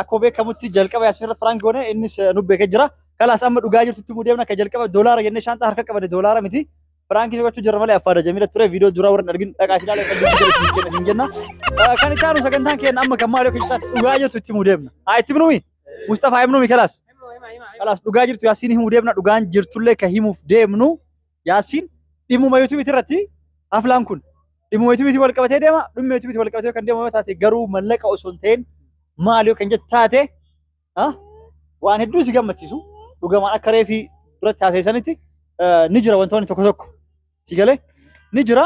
Akkuma beekamutti jalqaba Yaasmin irra piraank goone innis eh, nu beekee jira. Kalaas amma dhugaa jirtutti immoo deemna akka jalqaba doolaara jennee shaanxaa harka qabane doolaara miti. Piraankiis gochuu jirra malee affaada jamiila ture viidiyoo duraa warra hin argin dhaqaa isin ilaalee kan jirtu jala isin kenna isin jenna. Eh, Kan itti aanu sagantaan keenya amma kan maali akka jirtan dhugaa jirtu itti himuu deemna. Haa itti himnumi? Mustafaa himnumi kalaas? Kalaas dhugaa jirtu Yaasmin himuu deemna dhugaan jirtullee kan himuuf deemnu Yaasiin dhimmuma yuutuubiitii irratti aflaan kun dhimmuma yuutuubiitii wal qabatee deema dhimma yuutuubiitii wal qabatee kan deemu yoo taate garuu mallaqa osoo hin ta'in maal yoo kan jettu taate ah, waan hedduu si gammachiisu dhugamaan akka reefii duratti haasa'isanitti eh, ni jira wantoonni tokko tokko si galee ni jira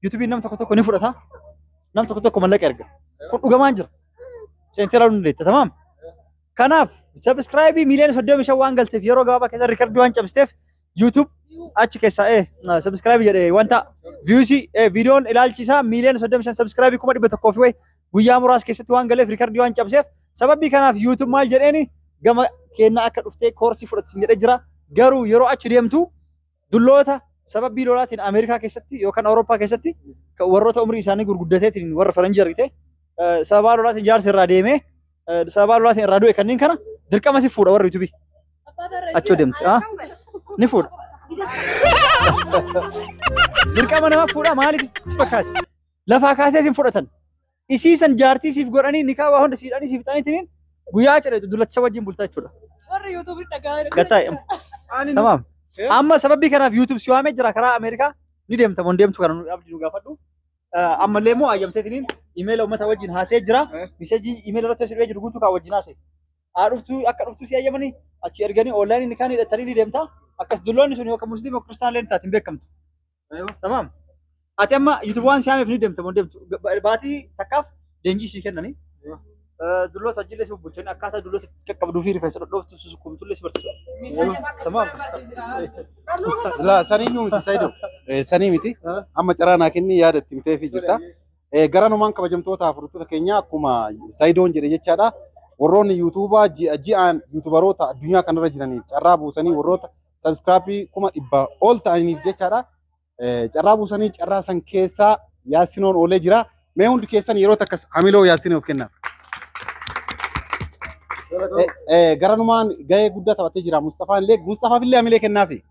yuutuubiin nam tokko tokko ni fudhata nam tokko tokko mallaqa erga kun dhugamaan jira seentee ilaaluu ni dandeetta tamaam kanaaf sabiskiraayibii miiliyoona soddomi shan waan galteef yeroo gabaabaa keessa riikardii waan cabsteef YouTube achi keessaa eh subscribe jedhe wanta views eh videon ilaalchi isaa miiliyoona 35 subscribe kuma 100 fi wayi guyyaa muraasa keessatti waan galeef riikardii waan cabseef sababii kanaaf YouTube maal jedheeni gama keenya akka dhuftee koorsii fudhatu sin jedhee jira garuu yeroo achi deemtu dulloota sababii lolaatiin Ameerikaa keessatti yookaan Awurooppaa keessatti kan warroota umrii isaanii gurguddateetiin warra faranjii argite eh, sababaa lolaatiin jaarsi irraa deemee eh, sababaa lolaatiin irraa du'e kanneen kana dirqama si fuudha warri yuutubii. Achoo deemti. Ah, ni fuudha. Dirqama nama fuudha maaliif si fakkaate? Lafaa kaasee sin fudhatan. Isii san jaartii siif godhanii nikaa waa hunda siidhanii siif fixaniitiin guyyaa cidheetu dullachisa wajjin bultaa jechuudha. Warri YouTube dhagaa. Gataa tamaam. Amma sababii kanaaf YouTube si waamee jira karaa Ameerikaa ni deemta moo hin deemtu kana nu abdi nu gaafadhu. ammallee immoo ayyamteetiniin imeela uummata wajjin haasee jira. Miseejii imeela irratti hojii jiru guutuu kan wajjin haasee. Haa dhuftuu akka dhuftuu si ayyamanii achi erganii oonlaayinii ni kaan hidhatanii ni deemta. Akkas dulloonni sun yookaan musliima yookaan kiristaanaa illee taatiin beekamtu. Tamaam. Ati amma yuutuubawwan si haameef ni deemta moo deemtu baatii takkaaf leenjii sii kennanii dulloota ajjiillee si bubbulchanii akkaataa dulloota itti qaqqabduu fi rifeensa dhodhooftu susukkumtullee si barsiisa. Tamaam. Silaa sanii iyyuu miti Sayido. Eh, Sanii miti. Ah. Amma carraa naa kenni yaada itti mitee fi jirta. Eh, Garanumaan kabajamtoota fudhattoota keenya akkuma Sayidoon jedhe jechaadha. Warroonni yuutuubaa ji'a ji'aan yuutubaroota addunyaa kanarra jiraniif carraa buusanii warroota sabiskiraapii kuma dhibba ol ta'aniif jechaadha. Carraa buusanii carraa san keessaa yaasinoon oolee jira. Mee hundi keessan yeroo takka hamiloo yaasinoof kennaa. Garanumaan gahee guddaa taphatee jira Mustafaan illee. Mustafaaf illee hamilee kennaafi.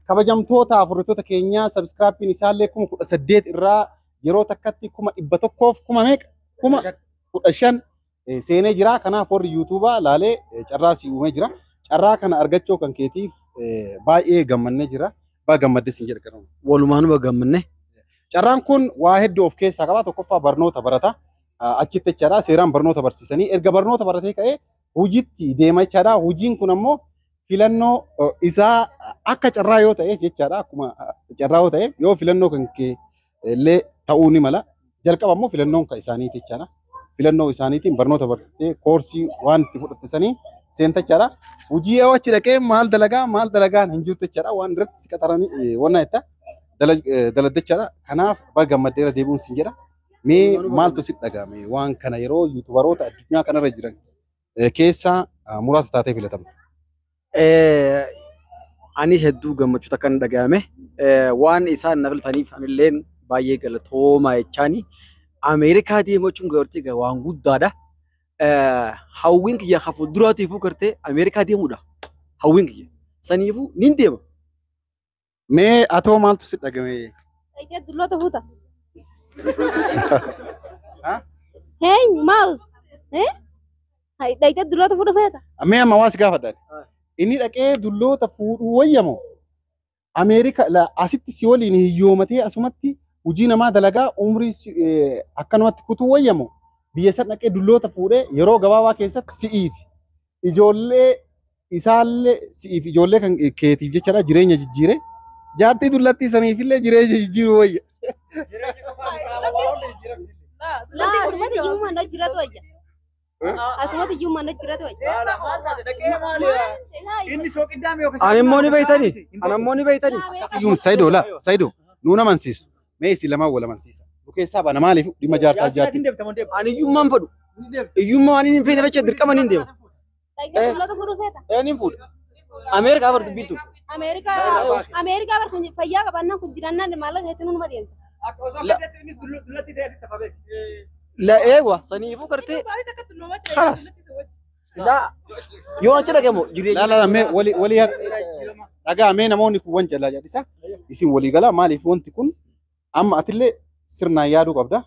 Kabajamtoota afurritoota keenyaa sabiskiraappiin isaallee kuma kudha saddeet irraa yeroo takkatti kuma dhibba tokkoof kuma meeqa? Kuma kudha shan eh, seenee jira. Kanaaf warri yuutuubaa laalee eh, carraa si uumee jira. Carraa kana argachuu kan keetiif eh, baay'ee gammannee jira. Baay'ee gammadde siin jedha garuu. Walumaanuma gammanne. Carraan kun waa hedduu of keessaa qaba. Tokkoffaa barnoota barata. Ah, Achitti jechaadha seeraan barnoota barsiisanii erga barnoota baratee ka'ee hojiitti deema jechaadha. Hojiin kun ammoo filannoo eh, isaa akka carraa yoo ta'eef jechaadha. Akkuma ah, carraa yoo ta'eef yoo filannoo kan kee illee ta'uu ni mala. Jalqaba immoo filannoon kan isaaniiti jechaadha. Filannoo isaaniitiin barnoota bartee koorsii waan itti fudhatte saniin seentachaadha. Hojii yoo achi dhaqee maal dalagaa maal dalagaan hin jirtu jechaadha. Waan irratti si qaxaranii eh, wanna jetta dala- eh, daladdachaadha. Kanaaf baga gammaddeera deebi'uun sin jedha. Mee maaltu si dhaga'ame waan kana yeroo yuutubaroota addunyaa kanarra jiran eh, keessaa ah, muraasa taatee filatamte. Eh, anis hedduu gammachuu takka na dhagahame. Eh, waan isaan na filataniif anilleen baay'ee galatoomaa jechaani. Ameerikaa deemuu jechuun gartee ga- waan guddaadha. Eh, hawwiin kiyya kan fuulduraatiifuu gartee Ameerikaa deemuudha. Hawwiin kiyya. Saniifuu nin deema. Mee atoo maaltu si dhagame? Dhaqee dulloota fuuta. Heenyu maawus. Dhaqee dulloota fuudha feeta. Mee amma waa si gaafadha. Inni dhaqee dulloota fuudhuu wayyamo. Ameerika la asitti si waliin hiyyoomatee asumatti hojii namaa dalagaa umrii si- eh, akkanumatti kutuu wayyamo. Biyya san dhaqee dulloota fuudhee yeroo gabaabaa keessatti si'iifi. ijoollee isaallee si'iif ijoollee kan keetiif jechadha jireenya jijjiire jaartii dullattii saniifillee jireenya jijjiiru wayya. Laa asumatti iyyummaa na jiratu wayya. Asumatti iyyummaa na jiratu wayya. Inni sooqiddaame yookiin Ani immoo ni beeytani. Ani immoo ni beeytani. Iyyum Saidoo laa Saidoo nuun amansiisu Mee isin lamaan wal amansiisa. Nu keessaa baana maaliif dhimma jaarsaa jaartii. Ani iyyummaan fadhu. Iyyummaa waan hin feene fachaa dirqama ni deema. Dhaggeeffattoota mul'atu fudhuu feeta. Ee ni fuudha. Ameerikaa bar dubbiittu. Ameerikaa Ameerikaa bar kun fayyaa qabannaan kun jirannaan maallaqa hedduu numa deemta. La eegwa saniifuu gartee. Kalas. Daa yoo achi dhaqamu jireenya. Laa laa mee wali wali dhagaa mee namoonni kun wan jalaa jalisa isin walii galaa maaliif wanti kun amma atillee sirnaan yaaduu qabda.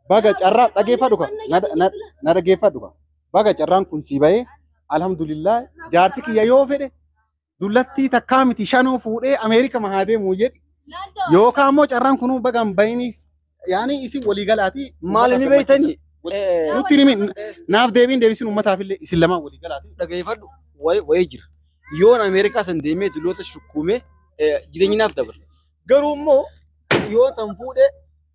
Baga carraa dhageeffadhu ka na- na- na dhageeffadhu ka baga carraan kun sii bahee alhamdulillah jaarsi kiyya yoo fedhe dullattii takkaa miti shanuu fuudhee Ameerika mahaa deemuu jedhi. Yookaan immoo carraan kunuu baga hin bahiniif yaani isin walii galaati. Maal inni beektanii? Nutti himi naaf deebiin deebisin uummataaf illee isin lamaan walii galaati. Dhageeffadhu wayii jira. Yoon Ameerikaa san deemee dulloota shukkuumee jireenyi naaf dabala. Garuu immoo yoon san fuudhee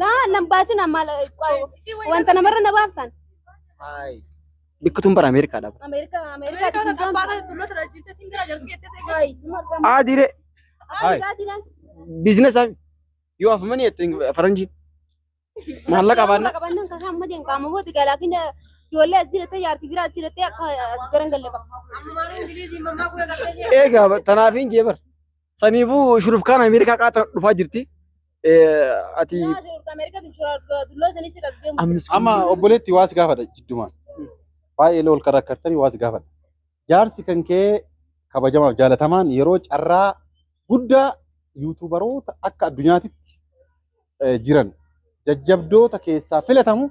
Laa nan baasin amma wanta namarra na baaftan. Haay. Bikki tun bara Ameerikaadha. bara. Ameerikaa Ameerikaa Ameerikaa tun tabbaa kan tullo tira jirte sin gara jarsi kette seeqa. Haay. Aa diree Haay. Haay. biizinesa yoo afamani jettu faranjii. Maallaqa baanna. Qabannan kan amma deemu qaama booti galaakin ijoollee as jirattee jaartii biraa as jirattee akka as garan galle qaba. Amma maal Ingiliizii mammaa guyyaa galtee jee. Eegaa tanaafiin jee bara. Saniifuu shurufkaan Ameerikaa qaata dhufaa jirti. Ati amma obboleetti waas gaafadha jiddumaan. Baay'ee lool kan rakkattanii waas gaafadha. Jaarsi kan kee kabajamaaf jaalatamaan yeroo carraa guddaa yuutuubaroota akka addunyaatitti jiran jajjabdoota keessaa filatamu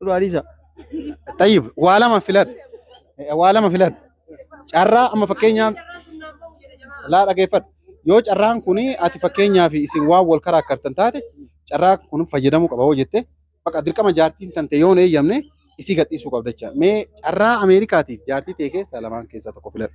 Duraa dhiisa. Tayyib waa lama filadhu. Eh, Waa lama filadhu. Carraa amma fakkeenyaaf laa dhageeffadhu. Yoo carraan kun ati fakkeenyaaf isin waan wal karaakkartan taate carraa kun fayyadamuu qaba hoo jette bakka dirqama jaartiin tante yoo hin eeyyamne isii gadhiisuu qabda jecha. Mee carraa Ameerikaatiif jaartii ta'e keessaa lamaan keessaa tokko filadhu.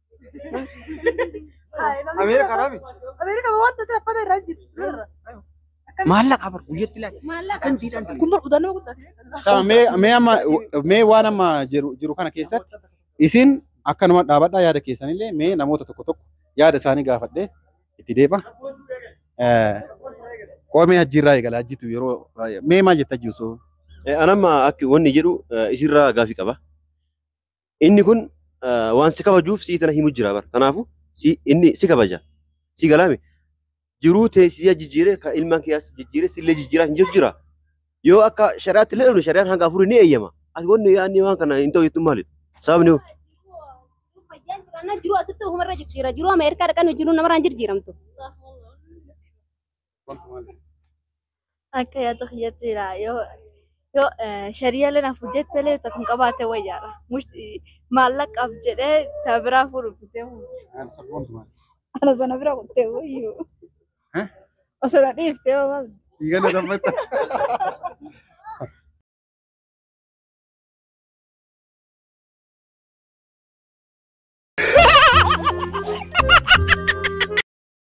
Ameerika rabi. Ameerika wanta ta'e fata irraa jiru. Maallaqa bar guyyatti laata. Maallaqa. Kan diidaan Kun bar udaan nama guddaa. Tama mee mee amma mee waan amma jiru jiru kana keessatti isin akkanuma dhaabadhaa yaada keessanillee mee namoota tokko tokko yaada isaanii gaafadhee itti deeba. Eh, Qoomee hajjiirraa eegala hajjitu yeroo baay'ee mee maal jetta hajji osoo Anamma akka wanni jedhu isirraa gaafii qaba. Inni kun waan si kabajuuf si'i tana himu jira bara. Kanaafu inni si kabaja. Si galaame. Jiruu teessisee jijjiiree ka ilmaan kee as jijjiiree sillee jijjiiraa hin jiru jira. Yoo akka shari'aatti illee dhufne shari'aan hanga afurii ni eeyyama. As wanni yaadni waan kana hin ta'u jettu maali? Sababni hoo? Fayyaan jiraannaan jiruu asitti ofumarra jijjiira. Jiruu Ameerikaa dhaqan jiruu namarraan jijjiiramtu. Akka yaada kiyyatti jira yoo yoo shari'aalee naaf hojjettelee isa kun qabaate wayyaadha. Maallaqaaf jedhee ta biraa fuudhu bitee fuudhu. Ana sana bira kuttee wayyu. Osoo na dhiiftee hoo maal? Dhiigana dabbata.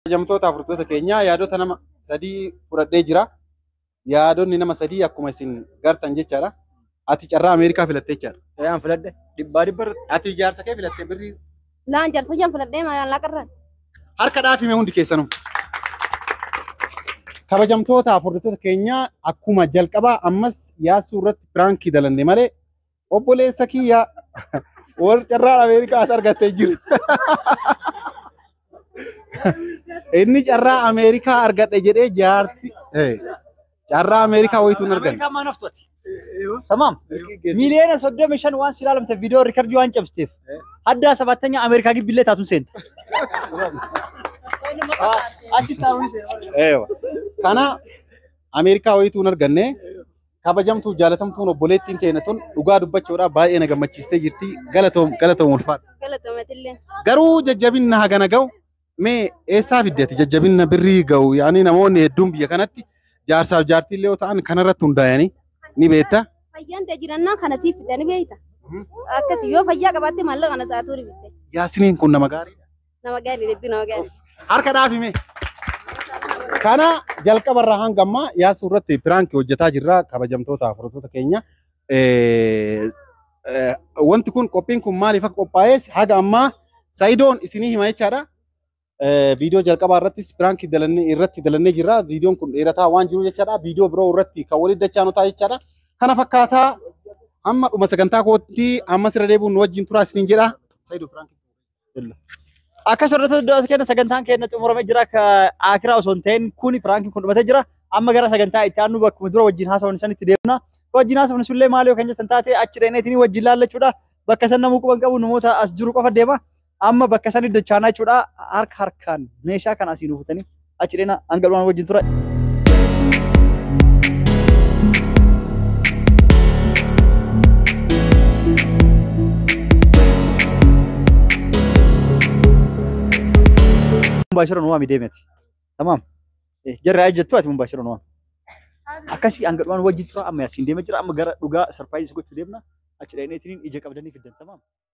Kabajamtoota afurtoota keenyaa yaadota nama sadii fudhadhee jira. Yaadonni nama sadii akkuma isin gartan jechaadha. Ati carraa Ameerikaa filattee jechaadha. Ayaan filadhe dhibbaa dhibba irratti. Ati ijaarsa kee filattee birrii Laan jaarsa jan filadhee maayaan laqarran. harka dhaafime hundi keessanuu. Kabajamtoota afurtoota keenyaa akkuma jalqabaa ammas yaassuu irratti piraankii dalanne malee obboleessa kiyya warri carraan Ameerikaa as argattee jiru. Inni carraa Ameerikaa argadhe jedhee jaarti eh, carraa Ameerikaa wayitu hin arganne. Ameerikaan maan haftooti. Tamaam. Miliyoona soddomi shan waan si ilaalamte viidiyoo riikardii waan cabsiteef. Haddaa sabaattanyaa Ameerikaa gibbillee taatuun seenta. Achis taa'uun seena. Eewa. Kana Ameerikaa wayitu hin arganne. kabajamtuu jaalatamtuun obboleettiin teena tun dhugaa dubbachuudhaaf baay'ee na gammachiistee jirti. Galatoom galatoom ulfaadha. Galatomatillee. Garuu jajjabinna hagana ga'u mee eessaa fidde ati jajjabinna birrii ga'u yaani namoonni hedduun biyya kanatti jaarsaaf jaartii illee yoo ta'an kanarratti hundaa'anii ni beekta. Fayyaan ta'e jirannaa kana siif fidanii beekta. Akkasi yoo fayyaa qabaatte maallaqa kana sa'aatuu ni bitte. Yaasiniin kun nama gaariidha. Nama gaarii hedduu nama gaarii. Harka dhaabi mee. Kana jalqaba irraa hanga ammaa yaasuu irratti piraankii hojjetaa jirra kabajamtoota fudhattoota keenya. Eh, eh, Wanti kun qophiin kun maaliif akka qophaa'es haga ammaa Sayidoon isinii hima jechaadha. Eh, Viidiyoo jalqabaa irrattis piraankii dalannee irratti dalannee jirra. Viidiyoon kun dheerataa waan jiru jechaadha. Viidiyoo biroo irratti kan waliin dachaa nu ta'a jechaadha. Kana fakkaataa amma dhuma sagantaa kootti ammas irra deebi'uun nu wajjin turaa isiniin jedha. Sayidoo piraankii. Akka soorata du'aas kenna sagantaan keenya xumurame jira akka akiraa osoo hin ta'in kuni piraankiin kun dhumatee jira. Amma gara sagantaa itti aanu bakkuma dura wajjin haasawwan isaan itti deemna. Wajjin haasawwan isullee maal yoo kan jettan taate achi dheeneetiin wajjin laallachuudha. Bakka san namuu quban qabu namoota as jiru qofa deema. Amma bakka san iddachaanaa jechuudha. Harka harkaan meeshaa kana asiin uufutanii. achi dhena hanga dhumaan wajjin tura. Mubaashira nu waami deemeti. Tamaam. Jarri haa jettu ati mubaashira nu waami. Akkasii hanga dhumaan wajjin tura amma yaasiin deema jira amma gara dhugaa sarpaayiis gochuu deemna. Achi dhaqneetiin ija qabdanii fiddan tamaam.